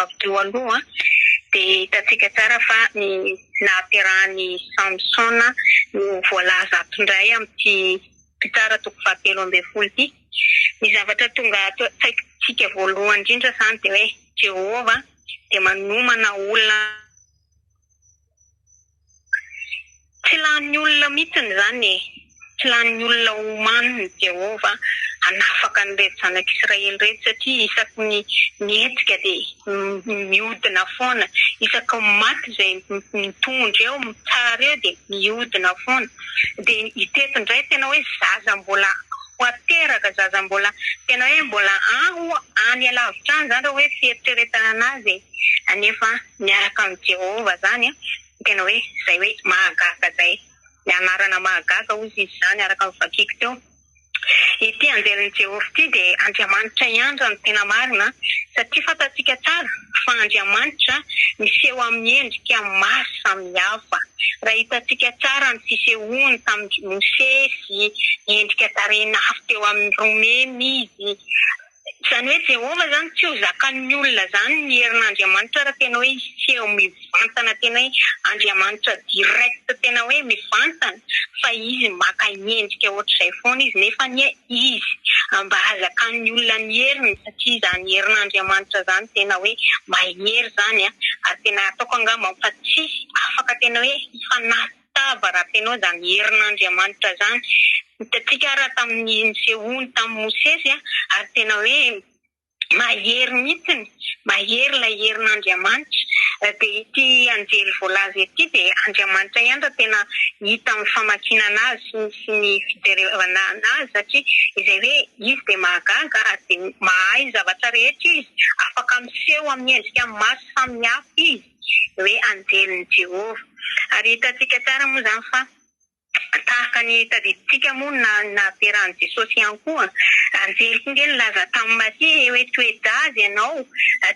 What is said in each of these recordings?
Avy teo aloha dia hitantsika tsara fa ny nahaterahan'i Samsona no voalaza ato indray amin'ity mpitsara toko fahatelo ambin'ny folo ity. Ny zavatra tonga ato an-tsaintsika voalohany indrindra izany dia hoe Jehovah dia manomana olona. Tsy lanin'ny olona mihitsiny izany e! Tsy lanin'ny olona omanin' i Jehovah hanafaka an'ireto zanak'i Israely ireto, satria isaky ny mihetsika dia mihodina foana, isaky ny maty izay mitondra eo, mitsara eo dia mihodina foana. Dia hitety indray tena hoe zaza mbola ho ateraka, zaza mbola tena hoe mbola any alavitra any izany raha hoe fieritreretana anazy e! Anefa miaraka amin'i Jehovah izany, ny tena hoe izay hoe mahagaga izay. Ny anarana mahagaga, hoy izy izany, araka ny vakiko teo. Ity anjelin'i Jehovah ity dia Andriamanitra ihany raha ny tena marina, satria fantatsika tsara fa Andriamanitra miseho amin'ny endrika maro samihafa. Raha hitantsika tsara ny fisehoany tamin'i Mosesy, niendrika tarehin'afo teo amin'ny romena izy. Izany hoe Jehovah izany tsy ho zakan'ny olona izany ny herin'Andriamanitra raha tena hoe hiseho mivantana tena hoe Andriamanitra direct tena hoe mivantana fa izy maka endrika ohatr'izay foana izy nefa anie izy mba hazakan'ny olona ny heriny satria izany herin'Andriamanitra izany tena hoe mahery izany ary tena ataoko angamba fa tsy afaka tena hoe hifanasa tava raha feno zany herin'Andriamanitra zany. Hitantsika ara tamin'ny nisehoany tamin'i Mosesy ary tena hoe mahery mihitsiny, mahery ilay herin'Andriamanitra. Dia ity anjely voalaza ity dia Andriamanitra ihany raha tena hita amin'ny famakinana azy sy ny fijerevana azy satria izay hoe izy dia mahagaga ary dia mahay zavatra rehetra izy, afaka miseho amin'ny endrika maso samihafa izy. hoe anjelin'i Jehovah. Ary hitantsika tsara moa izany fa tahaka ny tadidintsika moa ny nahaterahan'i Jesosy ihany koa. Anjeliko ange nilaza tamin'i Maria hoe toe-jaza ianao,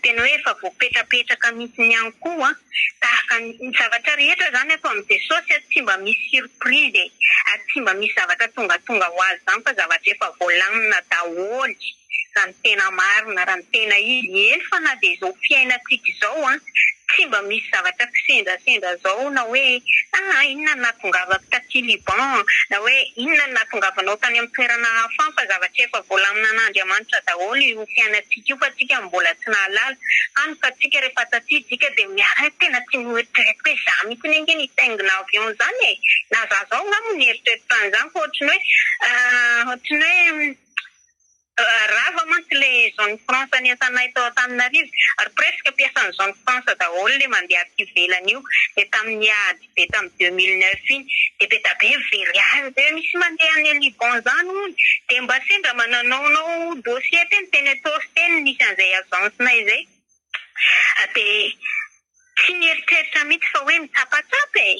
tena hoe efa voapetrapetraka mihitsy ihany koa. Tahaka ny zavatra rehetra izany atao amin'i Jesosy, tsy mba misy surprise e, tsy mba misy zavatra tongatonga ho azy izany fa zavatra efa voalamina daholo. Raha ny tena marina, raha ny tena izy, eny fa na dia izao fiainantsika izao an, tsy mba misy zavatra kisendrasendra izao na hoe aa inona no nahatongavako taty Liban an, na hoe inona no nahatongavanao tany amin'ny toerana hafa an, fa zavatra efa volaminin'Andriamanitra daholo io fiainantsika io fa tsika no mbola tsy nahalala, hany ka tsika rehefa taty dika dia miha tena tsy noeritreretiko hoe za mitsiny ange nitaingina avion izany e, na za zao angamba no nieritreritra an'izany fa ohatry ny hoe aa ohatry ny hoe. Rava mantsy le zone France niasanay tao Antananarivo ary presque mpiasan'ny zone France daholo le mandeha aty ivelany io de tamin'ny ady be tamin'ny deux mille neuf iny de be da be very azy de misy mandeha any Liban zany hono de mba sendra mba nanaonao dossier teny teny ataovy teny misy an'izay agence nay zay de tsy nieritreritra mitsy fa hoe mitsapatsapa e!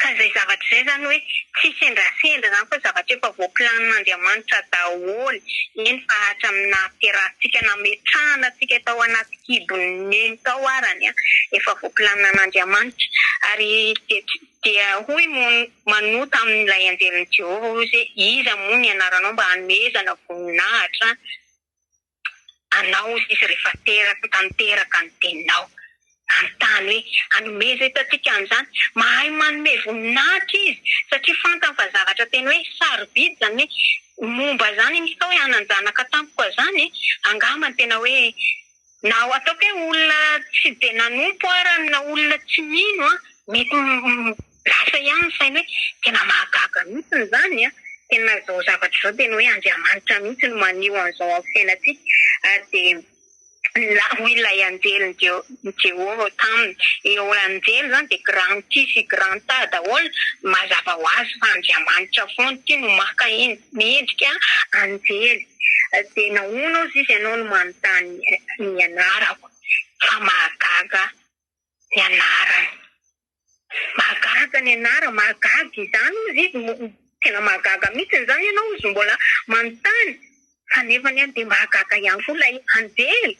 Ka izay zavatra izay izany hoe tsy sendrasendra izany fa zavatra efa voaplanin'Andriamanitra daholo, eny fa hatramin'ny nahaterahantsika, nametrahana antsika tao anaty kibon'ny neny tao arany an, efa voaplanin'Andriamanitra. Ary dia dia hoy moa Manoa tamin'ilay anjelin'i Jehovah hoe, Iza moa ny anaranao mba hanomezana voninahitra an? Anao sisa rehefa teraka tanteraka ny teninao hanontany hoe hanomezaiza antsika an'izany? Mahay manome voninahitra izy satria fantany fa zavatra tena hoe sarobidy izany hoe momba izany misy atao hoe hanan-janaka tampoka izany e! Angamba ny tena hoe na ataoko hoe olona tsy dia nanompo ara na olona tsy mino an, mety Lasa ihany ny sainy hoe tena mahagaga mihitsy ny zany an! Tena zao zavatra zao tena hoe Andriamanitra mihitsy no maneho an'izao amin'ny fiainantsika ary dia la hoy ilay anjeliny dia i Jehovah taminy, eo anjely zany dia grand ci sy grand ta daholo, mazava ho azy fa Andriamanitra foana ity no maka mendrika anjely dia nahoana ozy izy ianao no manontany ny anarako fa mahagaga ny anarany. Mahagaga ny anara, mahagaga izany ozy izy tena mahagaga mitsiny zany ianao ozy mbola manontany fa nefany an dia mahagaga ihany koa ilay anjely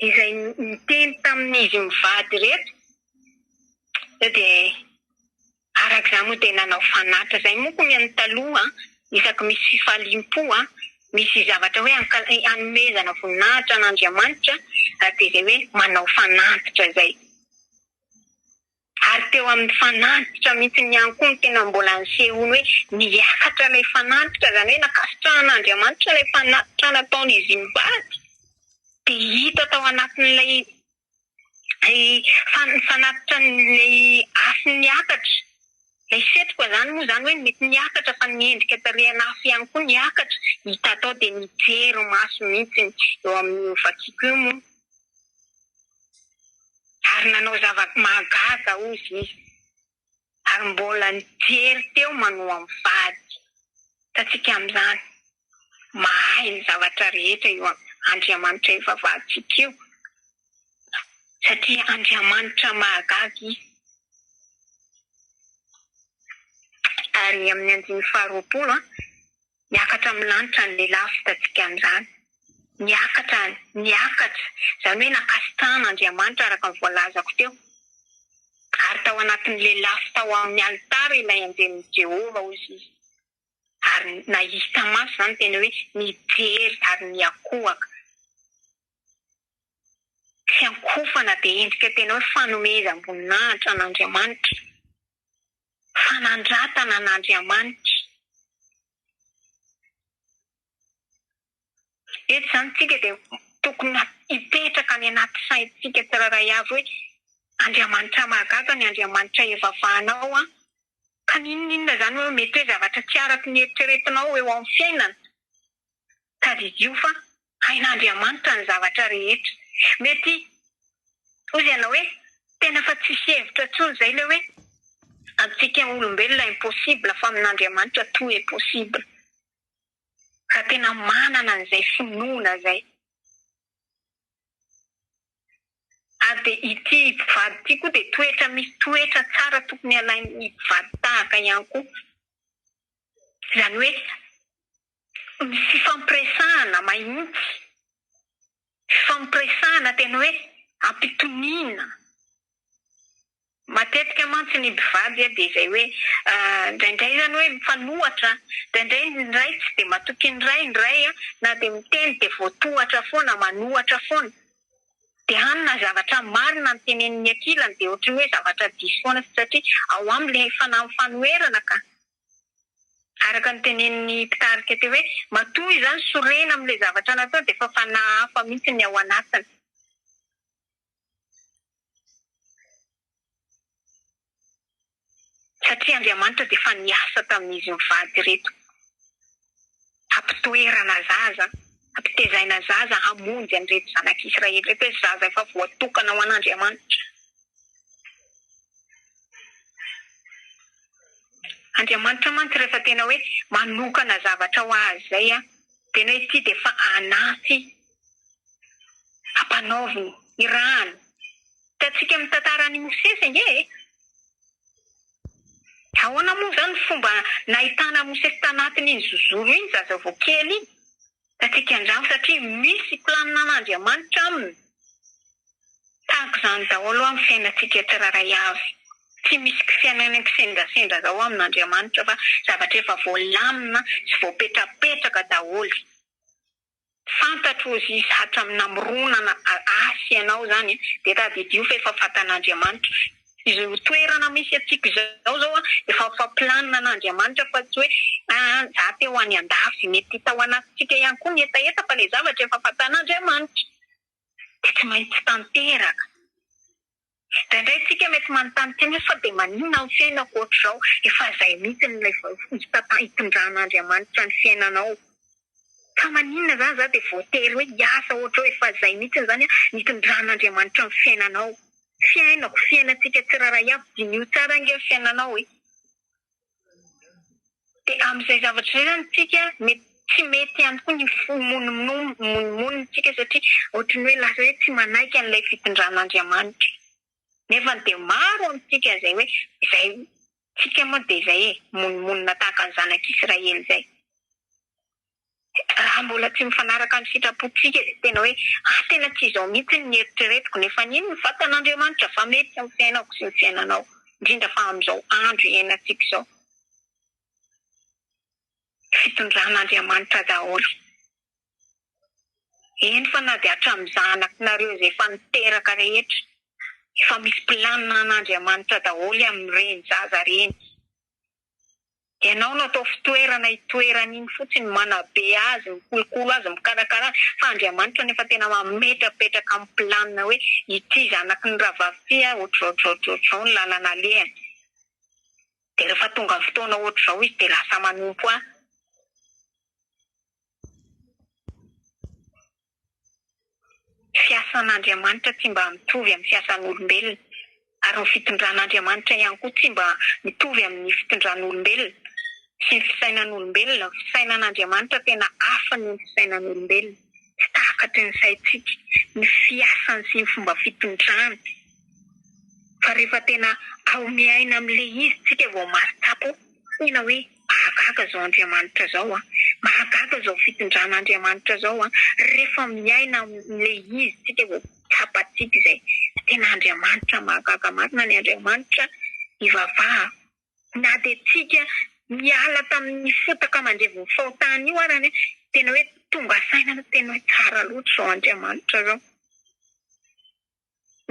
izay niteny tamin'izy mivady ireto sao dia araka izany moa dia nanao fanatitra izay moa koa ny an'ny taloha an isaky misy fifaliam-po an misy zavatra hoe hanomezana voninahitra an'Andriamanitra dia izay hoe manao fanatitra izay Ary teo amin'ny fanantitra mihitsy ihany koa no tena mbola nisehoany hoe niakatra ilay fanantitra, izany hoe nankasitrahan'Andriamanitra ilay fanatitra nataon'izy mivady. Dia hita tao anatin'ilay fanatitran'ilay afo niakatra, ilay setroka izany moa izany hoe mety niakatra fa ny endrika tarehin'afo ihany koa niakatra, hita tao dia nijery maso mihitsy eo amin'io vakiko io moa. ary nanao zava-mahagaga hozy izy, ary mbola nijery teo manoa mivady. Hitantsika amin'izany, mahay ny zavatra rehetra io Andriamanitra ivavahantsika io, satria Andriamanitra mahagaga Izy. Ary amin'ny andininy faharoapolo, Miakatra amin'ny lanitra ny lehilahy vitatsika amin'izany. Miakatra any, miakatra, izany hoe nankasitrahan'Andriamanitra araka ny voalazako teo. Ary tao anatin'ny lelafo tao amin'ny alitara ilay anjelin'i Jehovah, hoy izy. Ary nahita maso izany teny hoe nijery ary niankohoka. Fiankofana dia endrika tena hoe fanomezam-boninahitra an'Andriamanitra. fanandratana an'Andriamanitra. Eto izany isika dia tokony hipetraka any anaty saintsika tsirairay avy hoe Andriamanitra mahagaga ny Andriamanitra ivavahanao an! Ka na inona inona izany hoe mety hoe zavatra tsy araka ny eritreretinao eo amin'ny fiainana, tadidio fa Hain'Andriamanitra ny zavatra rehetra. Mety hoy ianao hoe, Tena fa tsisy hevitra intsony izay ilay hoe, amintsika olombelona impossible fa amin'Andriamanitra tout est possible. Raha tena manana an'izay finoana izay. Ary dia ity mpivady ity koa dia toetra misy toetra tsara tokony alain'ny mpivady tahaka ihany koa. Izany hoe ny fifampiresahana mahintsy, fifampiresahana tena hoe ampitoniana. Matetika mantsy ny mpivady dia izay hoe indraindray izany hoe mifanohatra, indraindray ny iray tsy dia matoky ny iray, ny iray na dia miteny dia voatohatra foana, manohatra foana. Dia hany na zavatra marina no tenenin'ny ankilany dia ohatran'ny hoe zavatra diso foana satria ao aminy ilay fanahy mifanoherana ka. Araka ny tenenin'ny mpitarika teo hoe, matoa izany sorena amin'ilay zavatra natao dia efa fanahy hafa mihitsy ny ao anatiny. Satria Andriamanitra dia efa niasa tamin'izy mivady ireto. hampitoerana zaza, hampitezaina zaza hamonjy an'ireto zanak'Israely ireto hoe zaza efa voatokana ho an'Andriamanitra. Andriamanitra mantsy rehefa tena hoe manokana zavatra ho azy izay, tena hoe ity dia efa anaty ampanaoviny, irahany. Hitantsika amin'ny tantaran'i Mosesy ange e! Ahoana moa izany ny fomba nahitana mosesy tanatiny iny zozoro iny zaza vao kely iny? Tatsika andramo satria misy planinan'Andriamanitra aminy. Tahaka izany daholo ho'a ny fiainantsika tsirairay avy. Tsy misy kifiainana kisendrasendra izao amin'Andriamanitra fa zavatra efa voalamina sy voapetrapetraka daholo. Fantatro ozy izy hatram namoronana ahy ianao zany de tadidio fa efa fatan'Andriamanitra izao toerana misy antsika izao zao a efa efa planina an'Andriamanitra fa tsy hoe aa za te ho any andafy mety hita ho anatintsika ihany koa ny hetaheta fa le zavatra efa fatan'Andriamanitra de tsy maintsy tanteraka. Indraindray isika mety manontany tena hoe fa dia maninona ny fiainako ohatr'izao? Efa izay mihitsy no ilay fomba hitondran'Andriamanitra ny fiainanao. Fa maninona izany za dia voatery hoe hiasa ohatr'izao? Efa izay mihitsy izany ny hitondran'Andriamanitra ny fiainanao. Fiainako, fiainantsika tsirairay avy, diniho tsara ange ny fiainanao e! Dia amin'izay zavatra izay izany isika mety tsy mety ihany koa ny fo monimonintsika satria ohatran'ny hoe lasa hoe tsy manaiky an'ilay fitondran'Andriamanitra. Nefa dia maro amintsika izay hoe izay tsika moa dia izay e, monimonina tahaka ny zanak'Israely izay. raha mbola tsy mifanaraka amin'ny sitrapontsika dia tena hoe ah tena tsy izao mihitsy ny eritreretiko nefa anie ny vatan'Andriamanitra fa mety ny fiainako sy ny fiainanao indrindra fa amin'izao andro iainantsika izao fitondran'Andriamanitra daholo eny fa na dia hatramin'ny zanakinareo izay efa niteraka rehetra efa misy planina an'Andriamanitra daholo amin'ireny zaza ireny Ianao no atao fitoerana itoerany iny fotsiny, manabe azy, mikolokolo azy, mikarakara azy, fa Andriamanitra no efa tena mametrapetraka ny planina hoe ity zanaky ny rahavavy ity a, ohatr'izao ohatr'izao ohatr'izao ohatr'izao ny lalana alehany. Dia rehefa tonga ny fotoana ohatr'izao izy dia lasa manompo ahy. Fiasan'Andriamanitra tsy mba mitovy amin'ny fiasan'olombelona, ary ny fitondran'Andriamanitra ihany koa tsy mba mitovy amin'ny fitondran'olombelona sy ny fisainan'olombelona. Ny fisainan'Andriamanitra tena hafa noho ny fisainan'olombelona, tsy takatry ny saintsika ny fiasany sy ny fomba fitondrany, fa rehefa tena haomeaina amin'ilay izy isika vao mahatsapa. Tena hoe mahagaga zao Andriamanitra zao an! Mahagaga zao fitondrana Andriamanitra zao an! Refa miaina amle izy tsika vao tsapatsika izay! Tena Andriamanitra mahagaga marina ny Andriamanitra ivavaha na de tsika miala taminy fotaka mandrevo fahotana io arany an! Tena hoe tonga saina tena hoe tsara loatra zao Andriamanitra zao!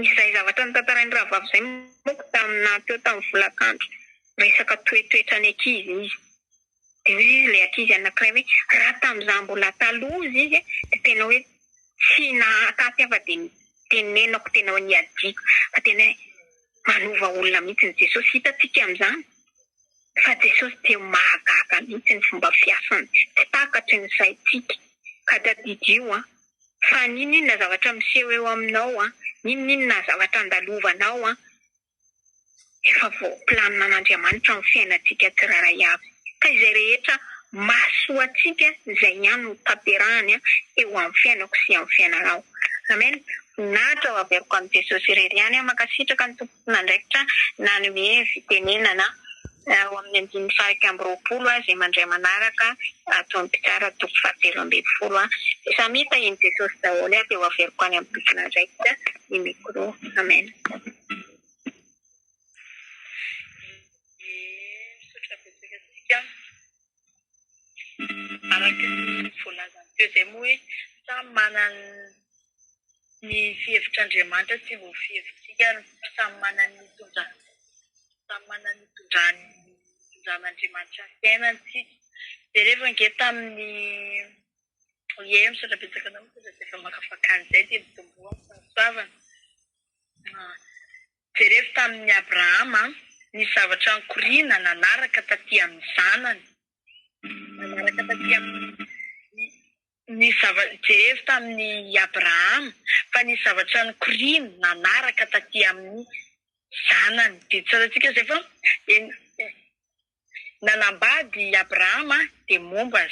Izay zavatra notantarain'i rahavavy izay manko tamin'ny naha teo tamin'ny volakandro resaka toetoetra ny ankizy izy. Dia hoy ilay ankizy anankiray hoe raha tamin'izaho mbola taloha hozy izy a, dia tena hoe tsy nahataty aho fa dia tenenako tena hoe niadiako. Fa tena hoe manova olona mihitsy ny Jesosy. Hitantsika amin'izany fa Jesosy dia mahagaga mihitsy ny fomba fiasany, tsy takatry ny saintsika. Ka tadidio an! fa n'inon'inona zavatra miseho eo aminao an, n'inon'inona zavatra andalovanao an, efa voaplaninan'Andriamanitra amin'ny fiainantsika tsirairay avy. Ka izay rehetra mahasoa antsika, izay ihany no tanterahany eo amin'ny fiainako sy amin'ny fiainanao. Amen! Voninahitra ho averiko an'i Jesosy irery ihany an! Mankasitraka ny Tompo. andraikitra nanome fitenenana ao amin'ny andininy faha-iraika amby roapolo azy aman-dray manaraka toa ny mpitsara toko fahatelo ambin'ny folo Samy hita i Jesosy daholo dia ho averiko any amin'ny tompon'andraikitra ny micro Amen Misaotra betsaka antsika Araka ny voalazany teo izay moa hoe samy manana ny fihevitr'Andriamanitra tsy ho fihevitsika ary samy manana ny itondrany samy manana ny itondrany itondran'Andriamanitra ny fiainany isika. Dia rehefa ange tamin'ny ie misaotra betsaka anao misaotra izay efa makafaka an'izay dia mitomboa amin'ny fahasoavana. Jerevo tamin' i Abrahama ny zavatra nikoriana nanaraka taty amin' ny zanany, nanaraka taty amin' ny zava-, jerevo tamin' i Abrahama fa ny zavatra nikoriana nanaraka taty amin' ny zanany. Dia tsarantsika izay fa eny, nanambady i Abrahama dia momba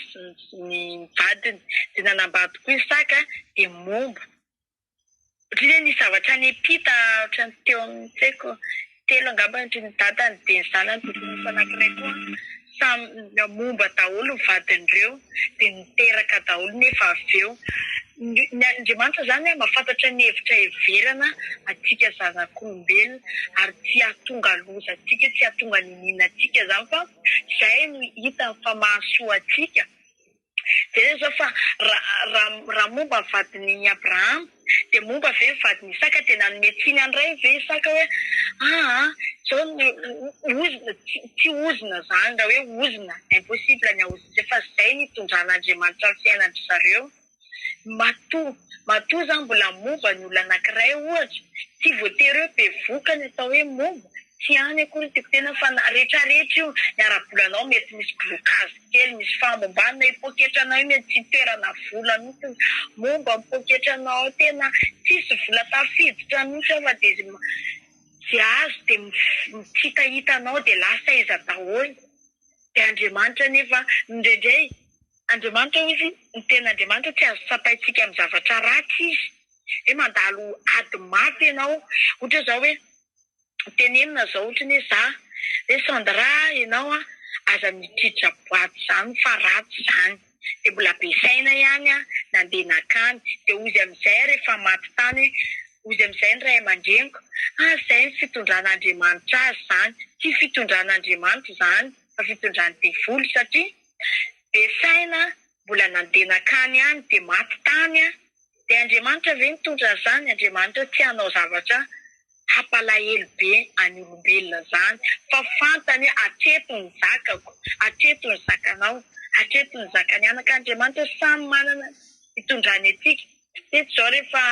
ny vadiny, dia nanambady koa Isaka dia momba Ohatran'ny hoe nisy zavatra nipita ohatran'ny teo amin'ny tsy haiko telo angamba ny dadany dia ny zanany vavy anankiray koa samy momba daholo ny vadin'ireo dia niteraka daholo nefa avy eo ny Andriamanitra izany mahafantatra ny hevitra heverana antsika zanak'olombelona ary tsy hahatonga loza antsika tsy hahatonga niniana antsika izany fa izay no hitany fa mahasoa antsika Jereo izao fa raha momba ny vadin'i Abrahama dia momba ve ny vadin'i Isaka? Dia nanome tsiny an'i Ray ve Isaka hoe aa izao ny ozona? Tsy ozona izany raha hoe ozona, impossible ny haozona izay fa izay ny hitondran'Andriamanitra ny fiainandry zareo. Matoa matoa izany mbola momba ny olona anankiray ohatra, tsy voatery hoe bevoka ny atao hoe momba, Tsy any akory ny tiako tena fa na retraretra io ny ara-bolanao mety misy blocage kely misy fahambombanina io poketra nao io mety tsy hitoerana vola mihitsy momba ny poketra nao ao tena tsisy vola tafiditra mihitsy ao fa dia izay izay azo dia tsy hitahita anao dia lasa iza daholo dia Andriamanitra anefa indraindray Andriamanitra hozy ny tena Andriamanitra tsy azo tsapaintsika amin'ny zavatra ratsy izy dia mandalo ady maty ianao ohatra izao hoe tenenina izao ohatra ny hoe za hoe Sandra ianao an aza mitritritra boaty izany fa ratsy izany dia mbola be saina ihany an nandeha nakany dia hoy izy amin'izay rehefa maty tany hoe hoy izy amin'izay ny ray aman-dreniko ah izay ny fitondran'Andriamanitra azy izany tsy fitondran'Andriamanitra izany fa fitondran'ny devoly satria be saina Mbola nandeha nankany any dia maty tany aho. Dia Andriamanitra ve nitondra an'izany? Andriamanitra tsy hanao zavatra hampalahelo be an'ny olombelona izany fa fantany hoe hatreto ny zakako, hatreto ny zakanao, hatreto ny zakan'ny anaka. Andriamanitra samy manana ny hitondrany antsika. Teto izao rehefa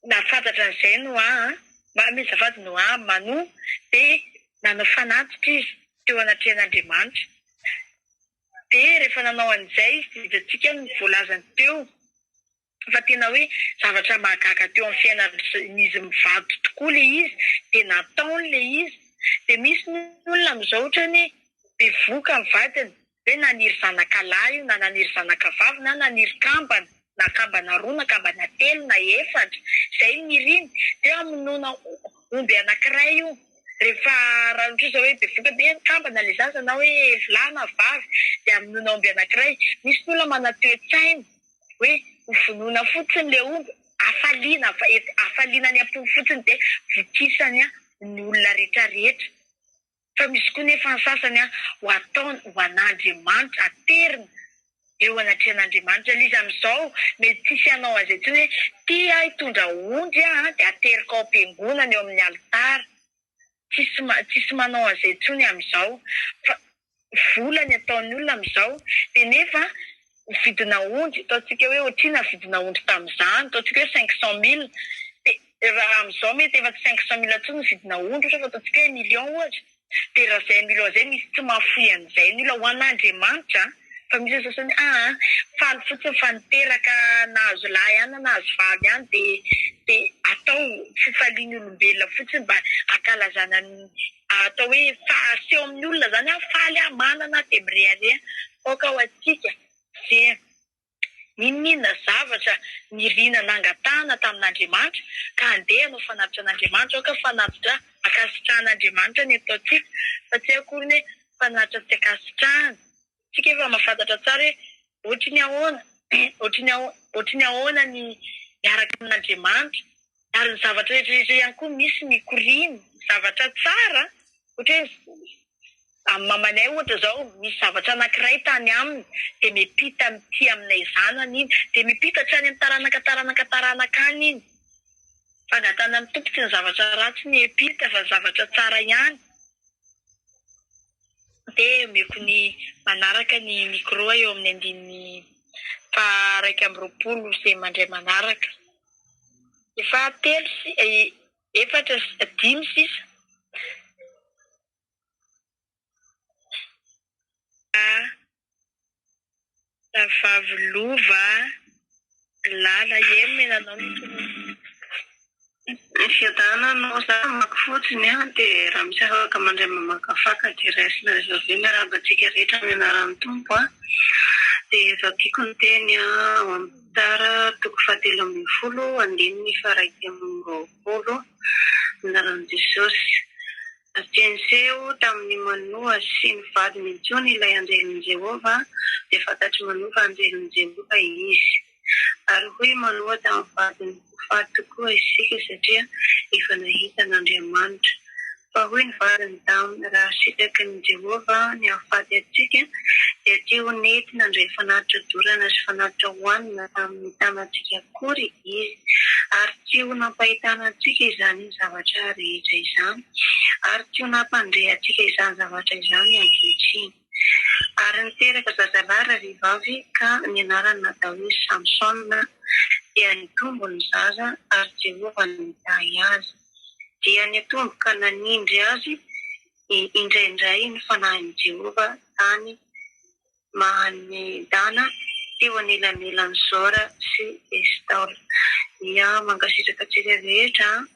nahafantatra an'izay Noa, manome azafady Noa, Manoa, dia nanao fanatitra izy teo anatrehan'Andriamanitra. dia rehefa nanao an'izay izy dia hitantsika ny voalazany teo fa tena hoe zavatra mahagaga teo amin'ny fiainan'izy mivady tokoa ilay izy dia nataony ilay izy. Dia misy ny olona amin'izao ohatrany hoe bevoka ny vadiny hoe naniry zanaka lahy io na naniry zanaka vavy na naniry kambana. na kambana roa na kambana telo na efatra zay ny iriny de hamonoana omby anakiray io rehefa raha ohatra zao hoe bevoka be ny kambana le zaza na hoe lahy na vavy de hamonoana omby anakiray misy ny olona manana toe-tsaina hoe ho vonoina fotsiny le omby hafaliana hafaliana any am-po fotsiny de vokisany ny olona retraretra Fa misy koa nefa ny sasany ho ataony ho an'Andriamanitra, ateriny eo anatrehan'Andriamanitra lzy amin'izao mety tsisy hanao an'izay intsony hoe ty aho hitondra ondry aho dia ateriko ao am-piangonana eo amin'ny alitara, tsisy tsisy manao an'izay intsony amin'izao fa vola ny ataon'ny olona amin'izao dia nefa vidina ondry, ataontsika hoe otrina vidina ondry tamin'izany, ataontsika hoe cinq cent mille, dia raha amin'izao mety efa tsy cinq cent mille intsony ny vidina ondry ohatra fa ataontsika hoe million ohatra, dia raha izay million izay misy tsy mahafoy an'izay ny olona, ho an'Andriamanitra an, fa misy ny sasany hoe aa faly fotsiny fa niteraka nahazo lahy ihany na nahazo vavy ihany dia dia atao fifalian'ny olombelona fotsiny mba hankalazana ny. atao hoe fahaseho amin'ny olona izany aho faly aho manana aho dia mirehareha aoka ho antsika ve n'inon'inona zavatra nirina nangatahana tamin'Andriamanitra ka andeha hanao fanatitra an'Andriamanitra aoka fanatitra ankasitrahan'Andriamanitra ny ataontsika fa tsy akory ny hoe fanatitra tsy ankasitrahana Tsika efa mahafantatra tsara hoe ohatry ny ahoana, ohatry ny ohatry ny ahoana ny miaraka amin'Andriamanitra. Ary ny zavatra rehetra rehetra ihany koa misy mikoriana, zavatra tsara. Ohatra hoe amin'ny mamanay ohatra izao, misy zavatra anankiray tany aminy, dia miampita amin'ity aminay zanany iny, dia miampita hatrany amin'ny taranaka taranaka taranaka any iny. Fangatahanan'ny Tompo tsy ny zavatra ratsy no hiampita fa ny zavatra tsara ihany. dia omeko ny manaraka ny micro eo amin'ny andininy faha iraika amby roapolo izay mandray manaraka. Efa telo si- efatra si- dimy sisa. Rahavavy lova lala iem e nanao ny tononkalo. Ny fiadanana no amako fotsiny a dia raha misy afaka mandray mamaka faka dia raisina avy eo miarahaba antsika rehetra amin'ny anaran'ny Tompo a dia efa tiako ny teny a ao amin'ny tara toko fahatelo ambin'ny folo andininy faha iraika amby roapolo amin'ny anaran'i Jesosy. Tsy niseho tamin'i Manoa sy ny vadiny intsony ilay anjelin'i Jehovah, dia fantatr'i Manoa fa anjelin'i Jehovah izy. Ary hoy Manoa tamin'ny vadiny, Ho faty tokoa isika, satria efa nahita an'Andriamanitra. Fa hoy ny vadiny taminy, Raha sitrakin'i Jehovah ny hahafaty antsika, dia tsy ho nety nandray fanatitra dorana sy fanatitra hohanina tamin'ny tanantsika akory. Izy, ary tsy ho nampahitana antsika izany zavatra rehetra izany, ary tsy ho nampandre antsika izany zavatra izany ankehitriny. Ary niteraka zazalahy rahavehivavy, ka ny anarany natao hoe Samsona, dia nitombo ny zaza, ary Jehovah no nitahy azy. Dia nitombo ka nanindry azy indraindray ny fanahin'i Jehovah tany Mahan'ny Dana teo anelanelan'i Zora sy Estaola. Ia, mankasitraka antsika rehetra an!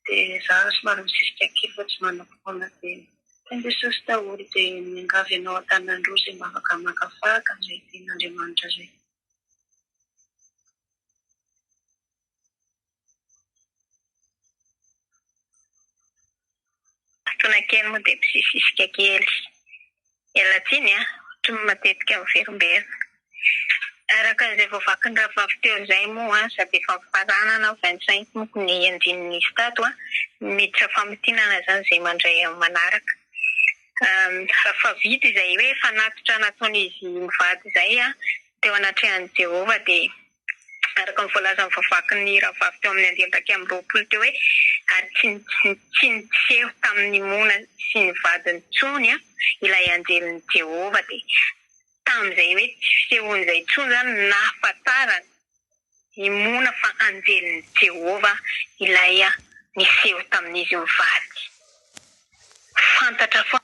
Dia za somary misisika kely fa tsy manako foana be. Teny Jesosy daholo dia miangavy anao an-tanan-droa izay mba afaka hamakafaka an'izay tenin'Andriamanitra izay. Fotoana kely moa dia mpisisisika kely. Miala tsiny an! Ohatry ny matetika miverimberina. Araka izay voavakin'ny rahavavy teo izay moa aza dia efa mifaranana vingt cinq moko ny andininy nisy tato an! Miditra famintinana izany izay mandray amin'ny manaraka. Raha efa vita izay hoe fanatitra nataon'izy mivady izay teo anatrehan'i Jehovah dia araka ny voalazan'ny voavaky ny rahavavy teo amin'ny andiany iraika amby roapolo teo hoe, Ary tsy tsy niseho tamin'i Mona sy ny vadiny intsony ilay anjelin'i Jehovah. Dia tamin'izay hoe tsy fisehoany izay intsony izany no nahafantaran'i Mona fa anjelin'i Jehovah ilay niseho tamin'izy mivady. Fantatra foana.